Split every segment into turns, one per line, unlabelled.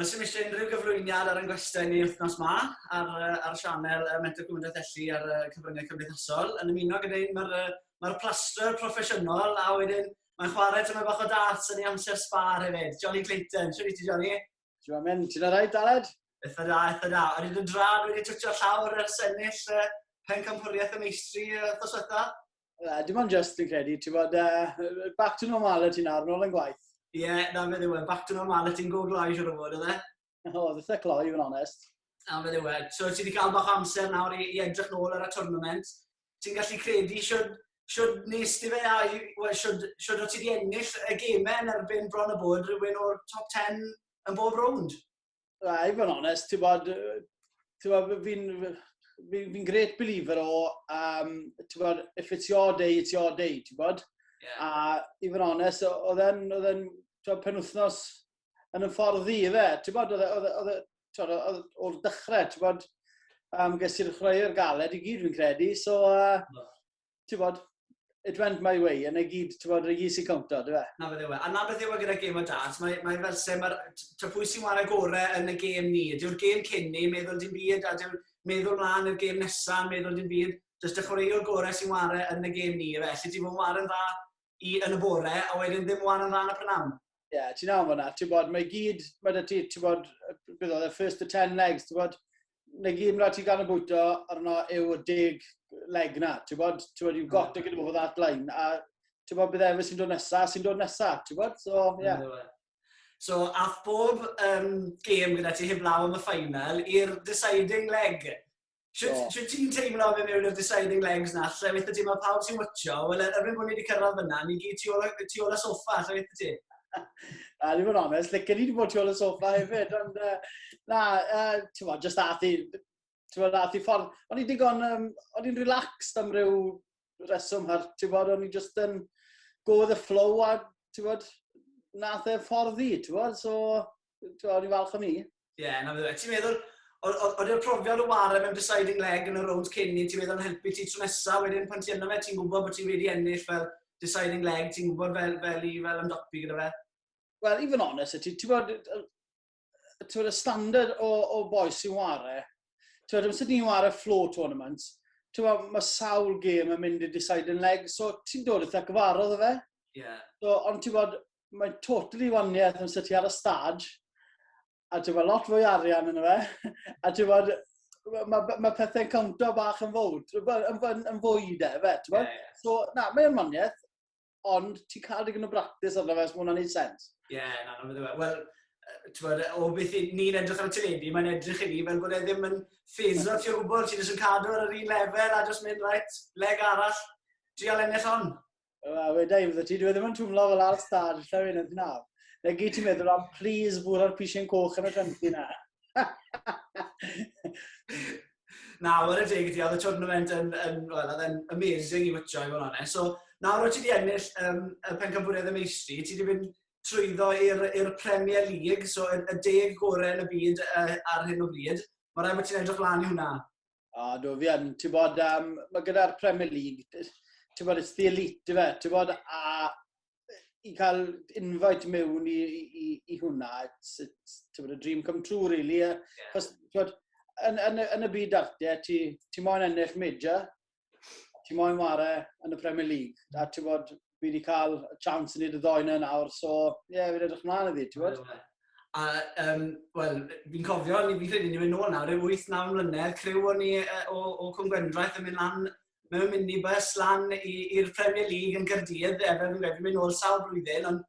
Wel, sy'n eisiau unrhyw gyflwyniad ar yngwestiau ni wythnos ma ar, ar sianel y Mentor Cymdeithas Elli ar y cyfryngau cymdeithasol. Yn ymuno gyda un mae'r mae plaster proffesiynol a wedyn mae'n chwarae tyma bach o darts yn ei amser sbar hefyd. Johnny Clayton, sy'n eisiau Johnny? Ti'n ma mynd, ti'n
rhaid, Daled? Eitha da, eitha da.
O'n i ddim dra, dwi wedi twtio llawr ar sennill uh, pen camhwriaeth y meistri uh, thos fetha. Uh, dim ond just
yn credu, ti'n bod, uh, back to normal y ti'n ar, nôl yn gwaith. Ie, yeah, na fe ddiwedd,
back to normal y ti'n go gloi siwr o fod, oedd e? O, oh, dditha
cloi, yn onest. Na fe ddiwedd.
So, ti wedi cael bach amser nawr i, i edrych nôl ar y tournament. ti'n gallu credu siwr, siwr nes ti fe a well, siwr, siwr o ti wedi ennill y gemau yn erbyn bron y bod rhywun o'r top 10 yn bob rownd? Na, i fod yn
onest, ti'n bod, ti'n bod, fi'n fi, fi great believer o, um, ti'n bod, if it's your day, it's your day, ti'n bod? Yeah. A i fod yn onest, oedd e'n, oedd e'n, ti'n bod, penwthnos yn y ffordd ddi, fe. Ti'n bod, oedd e, oedd e, oedd e, oedd oedd e, o'r dechrau, ti'n bod, um, ges i'r chwaraeo'r galed i gyd fi'n credu, so, uh, no. ti'n bod, it went my way, yn ei gyd, ti'n bod, rhaid i cownto, dwi fe? Na beth yw e. A na beth yw e
gyda gêm o dart, mae, mae fel se, mae'r, ta pwy sy'n wario gore yn y gêm ni, dyw'r gêm cyn ni, meddwl dim byd, a dyw'r meddwl mlaen i'r gêm nesaf, meddwl dim byd, jyst y chwaraeo'r gore sy'n wario yn y gêm ni, fe, lle ti'n fawr yn dda i yn y bore, a wedyn ddim wan yn rhan y prynawn. Ie, yeah, ti'n am hwnna, ti'n bod,
mae gyd, mae da ti, ti'n bod, beth oedd e, first to ten legs, ti'n bod, mae gyd mae da ti gan y bwyto, arno yw y deg leg na, ti'n bod, ti'n bod, you've got to get over that line, a ti'n bod, bydd efo sy'n dod nesa, sy'n dod nesa, ti'n bod, so, ie. Yeah. So,
ath bob um, game gyda ti heblaw am y ffainal i'r deciding leg. Sut ti'n teimlo fe mewn i'r deciding legs na? Lle weitha ti, mae pawb sy'n wytio, wel, er mwyn bod ni wedi cyrraedd fyna, ni gyd tu ôl, tu ôl y sofa, lle weitha ti? Na,
ddim yn onest, lle gen i wedi bod tu ôl y sofa hefyd, ond uh, na, uh, ti'n bod, just ath i, ti'n bod, ath i ffordd, o'n i'n digon, um, o'n i'n relaxed am ryw reswm, a ti'n bod, o'n i'n just yn go with the flow, a ti'n bod, nath e ffordd i, ti'n bod, so, Ti'n o'n i'n falch o ni? Ie, yeah, na fe. Ti'n
meddwl, oedd yw'r profiad o warau mewn deciding leg yn y rownd cyn ni, ti'n meddwl yn helpu ti tro nesaf, wedyn pan ti yna fe, ti'n gwybod bod ti wedi ennill fel deciding leg, ti'n gwybod fel, fel i fel ymdopi gyda fe? Wel, i fod yn
onest, ti'n ti bod, ti bod y standard o, o boes sy'n ware, ti'n bod, amser ni'n ware flow tournament, ti'n bod, mae sawl gêm yn mynd i deciding leg, so ti'n dod eitha gyfarod o fe. Yeah. So,
ond ti'n bod,
mae'n totally waniaeth yn sydd ti ar y stad, a ti'n fawr lot fwy arian yn fe, a ti'n fawr, mae ma pethau'n cawntio bach yn fawr, yn, yn, yn fwy de, fe, ti'n fawr? Yeah, yeah. So, na, mae'n waniaeth, ond ti'n cael digon o bractis arno fe, os mae hwnna'n ei sens. Ie, yeah, na, na, fydde fe.
Wel, Tywed, o beth ni'n edrych ar y teledu, mae'n edrych i ni fel bod e ddim yn ffeisio ti o gwbl, ti'n jyst yn cadw ar yr un lefel a jyst mynd, right, leg arall, trial ennill hon. Wel, wedi i fydda
ti, dwi e ddim yn twmlo fel ar stad, lle fi'n edrych nawr. Neu gyd ti'n meddwl am, please, fwr ar pisien coch yn y granti na.
na, wel y deg ydi, oedd y tournament yn, yn, well, yn amazing i wytio i fod yn So, nawr oed ti wedi ennill um, y pencampwriaeth y meistri, ti wedi mynd trwyddo i'r Premier League, so y, y deg gorau yn y byd uh, ar hyn o bryd. Mae rhaid bod ti'n edrych lan i hwnna. O, do, fi yn,
ti'n bod, um, mae gyda'r Premier League, ti'n bod, it's the elite, fe, ti'n bod, a i cael invite mewn i, i, i hwnna, it's, it's, ti'n bod, a dream come true, really, yeah. Cos, ti'n bod, yn, yn, yn, y byd arte, ti, ti moyn ennill major, ti moyn ware yn y Premier League, a ti'n bod, fi wedi cael y chance i wneud y ddoi na nawr, so ie, yeah, fi'n edrych mlaen iddi, ti'n gwybod? A, um,
wel, fi'n cofio, ni fi'n credu ni mynd nôl nawr, rhyw 8-9 mlynedd, criw o'n ni uh, o, o Cwm Gwendraeth yn mynd lan mewn minibus lan i'r Premier League yn Cyrdydd, efe fi'n credu mynd nôl sawl blwyddyn, ond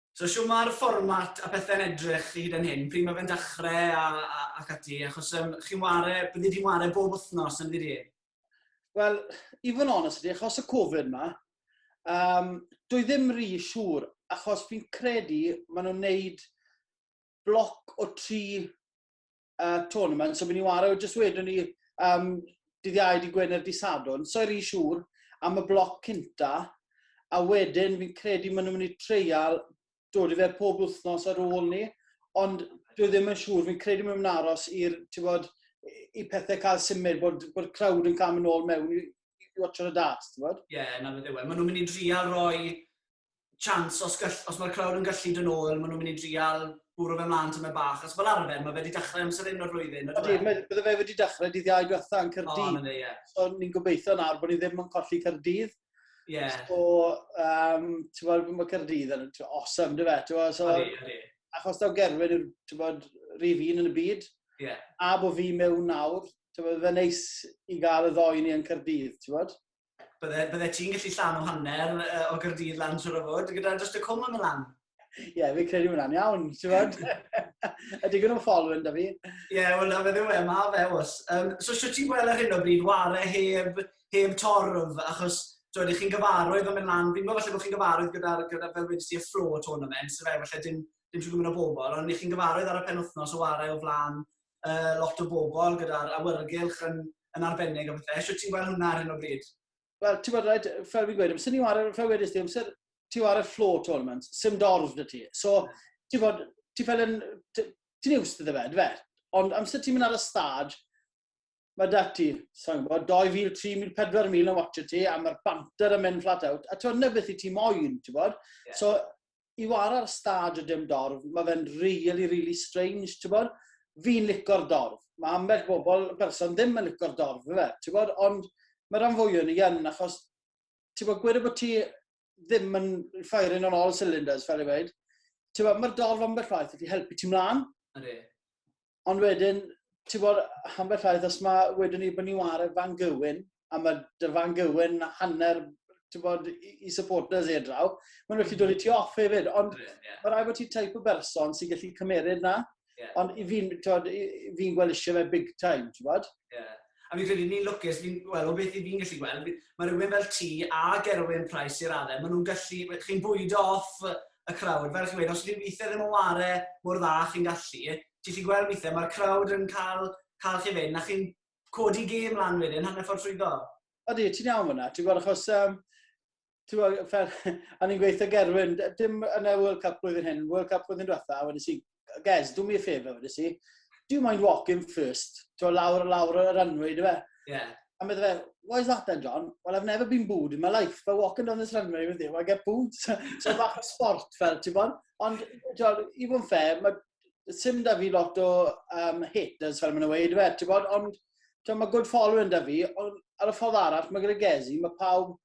So shwt ma'r
fformat a pethe'n edrych hyd yn hyn, pryd mae fe'n dachre a a ac ati achos yym chi'n ware, byddi di'n ware bob wythnos yndydi e? Wel,
i fod yn onest â ti, achos y Covid ma, um, dwi ddim rhi siŵr, achos fi'n credu maen nhw'n neud bloc o tri uh, tournament, so fi'n ni wario, jyst wedwn ni, um, dydd iau, di Gwener, di Sadwn, so i'r un siŵr am y bloc cynta, a wedyn fi'n credu maen nhw'n mynd i treial dod i fe pob wythnos ar ôl ni, ond dwi ddim yn siŵr, fi'n credu maen nhw'n aros i'r, ti bod, i pethau cael symud, bod, bod crowd yn cael mynd ôl mewn i, i watcher y darts, ti bod? Ie, yeah, na fe ddewe. Maen nhw'n mynd
i drial roi chance os, gall, os mae'r crowd yn gallu dod nôl, maen nhw'n mynd i drial bwrw fe mlaen tymau bach. Os fel arfer, mae fe wedi dechrau amser hyn o'r flwyddyn. Ydy, e? bydde fe wedi
dechrau dydd iau diwetha yn Cyrdydd. Oh, yeah. So ni'n gobeithio nawr bod ni ddim yn colli Cyrdydd. Yeah. So, um, ti'n bod, mae Cyrdydd yn awesome, dy fe? So, ydy, ydy.
Achos daw Gerwyn
yw'r, ti'n bod, rif un yn y byd. Yeah. A bod
fi mewn
nawr, ti'n bod, fe neis i gael y ddoen ni yn Cyrdydd, ti'n bod? bydde, bydde ti'n
gallu llan o hanner uh, o Gyrdydd lan trwy'r ofod, gyda just y cwm yn y lan. Ie, yeah, fi'n credu
hwnna'n iawn, ti'n bod? a digon o'n ffolwyn da fi. Ie, yeah, wel, na fe ddiw
e, ma fe os. Um, so, sio ti'n gweld ar hyn o bryd, ware heb, heb torf, achos Dwi'n chi'n gyfarwydd o mynd lan, fi'n gwybod falle bod chi'n gyfarwydd gyda, gyda fel wedi ti y fflo tournament, so fe falle dim, dim siŵr gwybod o bobl, ond chi'n gyfarwydd ar y penwthnos o ware o flaen uh, lot o bobl gyda'r awyrgylch yn, yn arbennig a bethau. Eisiau ti'n gweld hwnna ar hyn o bryd? Wel, ti'n gwybod, fel
fi'n gweud, amser ni war, fel wedys ti, amser ti war y floor tournament, sy'n dorf dy ti. So, ti'n gwybod, ti'n fel yn, ti'n iws dy fe, fe. Ond amser ti'n mynd ar y stad, mae dati, sa'n gwybod, 2,000, 3,000, 4,000 yn watch ti, a mae'r banter yn mynd flat out, a ti'n gwybod, na beth i ti moyn, ti'n gwybod? Yeah. So, i wara ar stad a dim dorf, ma fe'n really really strange t'bod? Fi'n lico'r dorf, ma ambell bobl yn berson ddim yn lico'r dorf yfe t'bod ond ma ran fwya o ni yn achos t'bod gweda bo ti ddim yn firing on all cylinders fel i weud t'bod ma'r dorf ambell waith yn gallu helpu ti mlan. Ydi.
ond
wedyn, ti'n bod, ambell llaeth, os mae wedyn ni bod ni wario fan gywyn, a mae dy fan gywyn hanner, ti'n bod, i, i supporters ei draw, mae'n rhaid i dod i ti off hefyd, ond yeah. mae rhaid bod ti type o berson sy'n gallu cymeryd na. Yeah. Ond i fi'n fi gweld eisiau fe big time, ti'n bod? Yeah. A fi'n credu ni'n lwcus, fi'n, wel, o beth 'y fi'n gallu
gweld, fi, ma' rywun fel ti a Gerwyn Price i radde, ma' nhw'n gallu, chi'n bwydo off y crowd, fel chi'n gweud, os ydyn weithiau ddim yn ware mor dda chi'n gallu, ti'n gallu gweld weithiau, mae'r crowd yn cael, cael chi fynd, a chi'n codi gêm lan wedyn, hanner ffordd trwyddo. Odi, ti'n iawn
fyna, ti'n gwybod, achos um, ti'n gwybod, fel, a ni'n gweithio Gerwyn, dim yn y World Cup blwyddyn hyn, World Cup blwyddyn diwetha, wedi si, Gez, do me a favour, wedi si, do you mind walking first? Ti'n gwybod, lawr, lawr y runway, dwi fe? Yeah. A meddwl fe,
why
is that then, John? Well, I've never been booed in my life, but walking down this runway with you, I get booed. so bach o sport fel, ti'n bod? Ond, John, i fod yn ffair, mae sim da fi lot o um, haters fel maen nhw'n weid, fe, ti'n bod, ond ti'n mae good following da fi, ond ar y ffordd arall, mae gyda Gezi, mae pawb,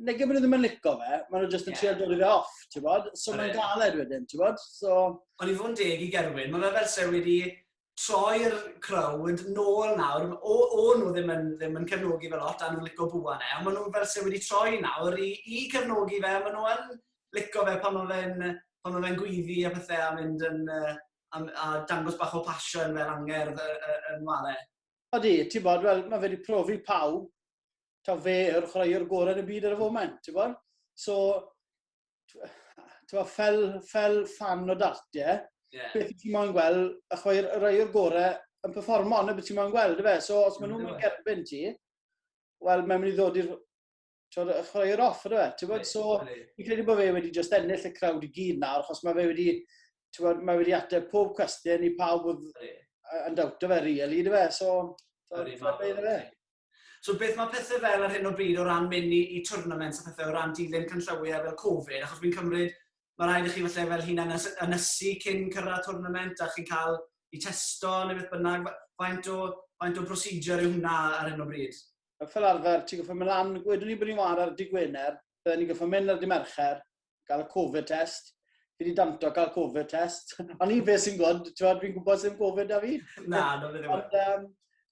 neu gymryd nhw ddim yn lico fe, maen nhw jyst yn yeah. dod i fe off, ti'n bod, so mae'n galed wedyn, ti'n bod, so... Ond i fod yn
deg i Gerwyn, mae'n fel se wedi troi'r crowd nôl nawr, o, o nhw ddim yn, ddim yn cefnogi fe lot, a nhw'n licio bwa ne, ond maen nhw fel se wedi troi nawr i, i cefnogi fe, maen nhw yn lico fe pan mae fe'n pan mae fe'n gweiddi a pethau a mynd yn uh, a, a dangos bach o passion fel angerdd y, y, y nware. Odi, ti'n
bod, wel, mae fe wedi profi pawb, ta fe yw'r chwaraewr gorau yn y byd ar y foment, ti'n bod? So, ti'n bod, fel, fel fan o dartiau, yeah. beth ti'n moyn gweld y chwaraewr gorau yn performo, ond beth ti'n moyn gweld, efe? So, os maen nhw'n mynd gerbyn ti, wel, mae'n mynd i ddod i'r twod, y chwaraewr off, ydw e? Ti'n bod, so, fi'n credu bod fe wedi just ennill y crowd i gyd nawr, achos mae fe wedi, twod, mae wedi ateb pob cwestiwn i pawb oedd yn dawt o fe, really, ydw e? So, fe.
So beth mae pethau fel ar hyn o bryd o ran mynd i, i tournaments a pethau o ran dilyn canllawiau fel Covid, achos fi'n cymryd mae rhaid i chi falle fel hyn ynysu cyn cyrraedd tournament a chi'n cael i testo neu beth bynnag, faint o, faint o procedure yw hwnna ar hyn o bryd? fel arfer, ti'n
goffa mynd lan, wedwn ni bod ni'n war ar dydd Gwener, bydden ni'n goffa mynd ar dydd Mercher, gael y Covid test, fi wedi danto cael Covid test, ond un fe sy'n gwybod, ti'n gwybod, fi'n gwybod sy'n Covid da fi. Na, no, fe ddim. Ond,
um,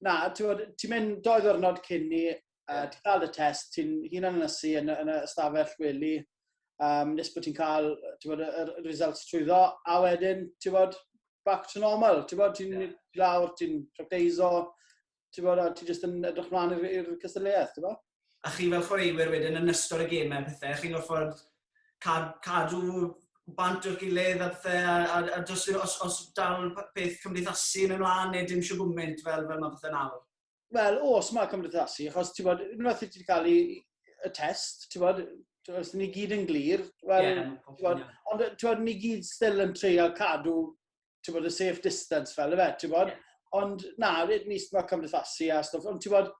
na,
ti'n mynd doi ddwrnod cyn ni, uh, ti'n cael y test, ti'n hun yn ynysu yn, yn y stafell weli, um, nes bod ti'n cael bod, y, y results trwy ddo, a wedyn, ti'n bod, back to normal, ti'n bod, ti'n yeah. lawr, ti'n practeiso, ti'n bod, a ti jyst yn edrych mlaen i'r cystadleuaeth, ti'n bod? a chi fel chwaraewyr
wedyn yn ystod y gemau a pethau, chi'n gorfod cadw bant o'r gilydd a pethau, a, a, a dos, os, os dal peth cymdeithasu yn ymlaen neu dim siw gwmynt fel, fel mae pethau nawr? Wel,
os mae cymdeithasu, achos ti'n bod, unwaith i ti wedi cael i, y test, ti'n bod, os ni gyd yn glir, wel, yeah, ti'n bod, ond ti'n bod, ni gyd still yn treio cadw ti'n bod, y safe distance fel efe, ti'n bod? Yeah. Ond na, rydyn ni sma cymdeithasu a stwff, ond ti'n bod,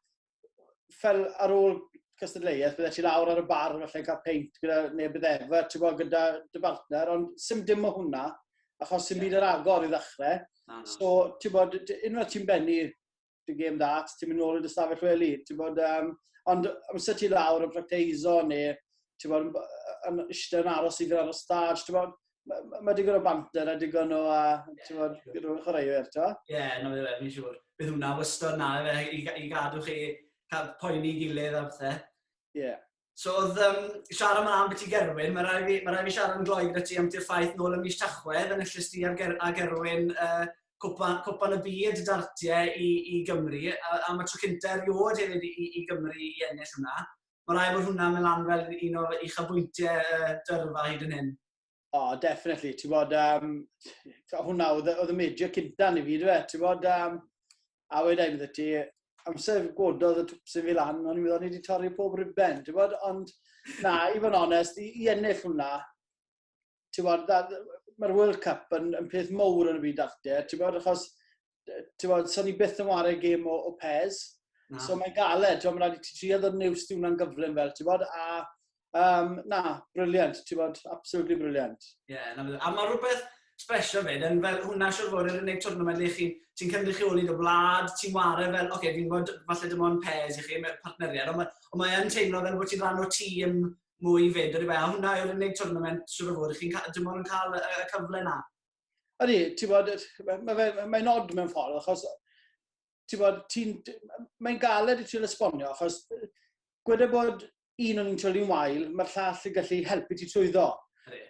fel ar ôl cystadleuaeth, bydde ti lawr ar y bar falle yn cael peint gyda neb bydd efa, ti'n bod, gyda dy bartner, ond sy'n dim o hwnna, achos sy'n yeah. byd yr agor i ddechrau. No, no. So, ti'n bod, unwaith ti'n bennu dwi'n gêm da, ti'n mynd nôl yn dy stafell wely. Ti'n bod, um, ond amser ti lawr yn practeiso neu ti'n bod, yn eistedd yn aros i fynd ar y stage, ti'n bod, mae ma digon o banter a digon o, uh, ti'n bod, gyda'r chwaraewyr, ti'n bod? Ie, yeah, na fe, fe, fi'n siŵr.
Bydd hwnna wystod na, fe, i, i gadw chi cael poeni gilydd a bethau. Ie. Yeah.
So oedd um,
siarad yma am beth i Gerwyn, mae rai fi, ma rai fi siarad yn gloi gyda ti am ti'r ffaith nôl ym mis Tachwedd, yn yslis ti ar, ger, a Gerwyn uh, cwpan, cwpan y byd dartiau i, i Gymru, a, a mae tro cynta erioed hefyd i, i, i Gymru i ennill hwnna. Mae rai bod hwnna'n mynd lan fel un o'r uchafbwyntiau uh, dyrfa hyd yn hyn. O, oh, definitely.
Ti'n bod, um, hwnna oedd, oedd y major cynta ni fi, dweud. Ti'n bod, um, a wedai mi ti, amser gododd y twpsyn fi lan, ond i'n meddwl ni wedi torri pob ribben, ti'n bod, ond na, i fod yn onest, i, i ennill hwnna, ti'n bod, mae'r World Cup yn, yn peth mowr yn y byd arte, ti'n bod, achos ti'n bod, so ni byth yn wario gêm o, o pes. Na. So mae'n galed, ti'n bod, mae'n rhaid i ti trio ddod news di hwnna'n gyflym fel, ti'n bod, a um, na, briliant, ti'n bod, absolutely briliant. Ie, yeah, na bydd. A mae
rhywbeth special fyd, yn fel hwnna siwr fod yn unig twrnament lle chi'n ti cynrychioli dy wlad, ti'n wario fel, oce, okay, fi'n gwybod falle dim ond pes i chi, mewn partneriad, ond mae, mae yn teimlo fel bod ti'n rhan o tîm mwy fyd, a hwnna yw'r unig twrnament siwr fod chi'n dim ond yn cael y cyfle na. Ydy, ti'n
bod, mae'n mae nod mewn ffordd, achos ti'n bod, ti'n, mae'n galed i ti'n esbonio, achos gweda bod un o'n i'n troli'n wael, mae'r llall yn gallu helpu ti trwyddo.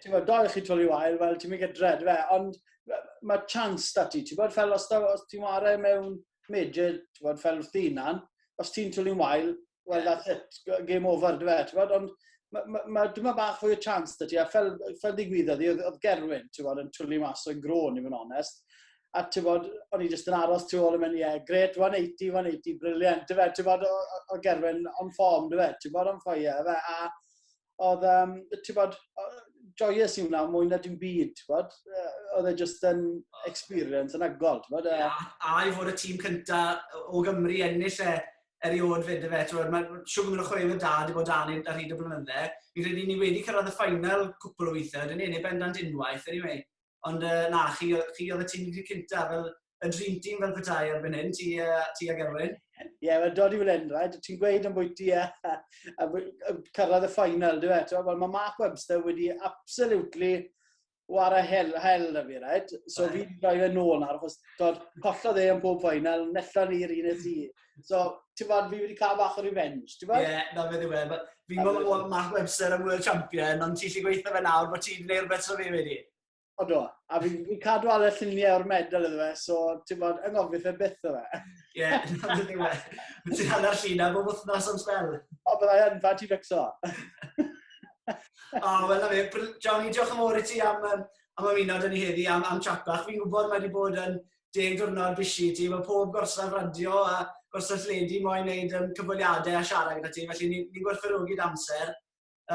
Ti'n bod, doi chi'n troli wael, wel, ti'n mynd gyda fe, ond mae chance da ti, ti'n bod, fel os, os ti'n wario mewn major, ti'n bod, fel wrth ddinan, os ti'n troli'n wael, Well, that's it. Game over, dwi fe. Ti'n ond mae ma, ma, dyma bach fwy o chance da ti, a fel, fel ddigwyddodd i, oedd Gerwyn, ti'n bod, yn twli mas o'n grôn, i fod yn onest. A ti'n bod, o'n i jyst yn aros tu ôl yn mynd, ie, yeah, gret, 180, 180, briliant, ti'n bod, o, o Gerwyn, on form, ti'n bod, on fire, fe, a oedd, um, ti'n bod, joyous i wnaw mwy na dim byd, ti'n bod? Oedd e just yn experience yn agol, ti'n bod? Yeah, a i fod y tîm
cynta o Gymru ennill e erioed fyd y fe, ti'n bod? Mae'n siw gwmwyd o chwaraewyr da, di bod dan ar hyd y blynydde. Fi'n credu ni wedi cyrraedd y ffainal cwpl o weithiau, dyn ni, neu bendant unwaith, anyway. Ond uh, na, chi, chi oedd y tîm cynta, fel y dream team fel petai ar fan hyn, ti, uh, ti ag Erwin. Ie, yeah, mae'n dod i fan
hyn, right? Ti'n gweud am bwyty a, a, a, a cyrraedd y ffainal, dwi fe? Wel, mae Mark Webster wedi absolutely war a hel, hel na fi, right? So fi wedi rhoi fe nôl nawr, achos dod collodd e yn pob ffainal, nella ni'r un eith i. So, ti'n fawr, fi wedi cael bach o revenge, ti'n fawr? Ie, yeah, na fe ddiwe. E.
Fi'n gwybod bod Mark Webster yn World Champion, ond ti'n lli gweithio fe nawr, bod ti'n gwneud rhywbeth so fi wedi. O do, a
fi'n fi cadw alw lluniau o'r medal iddo fe, so ti'n bod, yng ngofio fe byth o fe. Ie, yeah, dyna ni
we. Ti'n hanner lluniau bob wythnos am spel. O, byddai yn, fa ti
fixo.
o, wel na fe, Johnny, diolch yn fawr i ti am, um, am ymuno dyn ni heddi, am, am chat bach. Fi'n gwybod mae wedi bod yn deg diwrnod bisi ti, mae pob gorsaf radio a gorsaf lledi moyn wneud um, cyfweliadau a siarad gyda ti, felly ni'n ni gwerthfawrogi dy amser.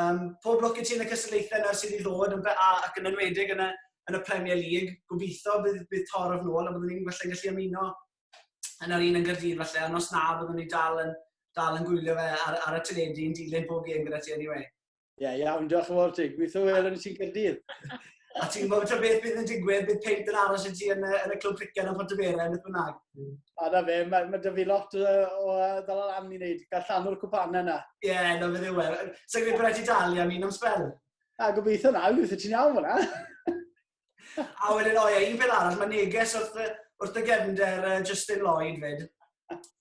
Um, pob lwc i ti yn y cystadlaethau nawr sydd i ddod yn BA ac yn enwedig yn y, yn y Premier League. Gobeithio bydd, bydd tor of nôl a byddwn ni'n falle gallu ymuno yn yr un yn gyrdydd falle, ond os na, byddwn ni dal yn, dal yn gwylio fe ar, ar y teledu yn dilyn pob gêm gyda ti anyway. Ie, yeah, iawn, diolch
yn fawr ti. Gweithio wel yn sy'n cyrdydd. A ti'n gwybod
ta beth bydd yn digwydd, bydd peint yn aros i ti yn, yn y clwb criced yn Pontyberau, beth bynnag. A da fe,
mae, mae da fi lot o, o ddala lan i wneud, gael llanw'r cwpanau yna. Ie, yeah, na fe ddiwe.
Sa'n gwneud gwneud i dalu am un am spel? A gobeithio na,
gobeithio ti'n iawn fyna.
a wedyn, o'i, un peth arall, mae neges wrth, wrth y gefnder uh, Justin Lloyd fyd.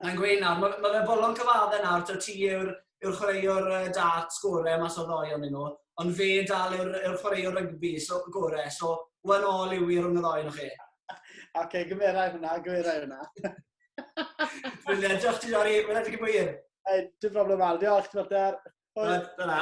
Mae'n gweud nawr, mae, mae fe bolon cyfaddau nawr, to ti yw'r yw chwaraewr uh, dart sgore mas o ddoi o'n nhw, ond fe dal yw'r yw chwaraewr rygbi so, gore, so one all yw i rhwng y ddoi nhw chi. Oce, okay,
gymerau hwnna, gymerau hwnna.
Brilliant, diolch ti Jori, mae'n edrych yn gwir. Dim
problem al, diolch, ti'n mater.
Dyna.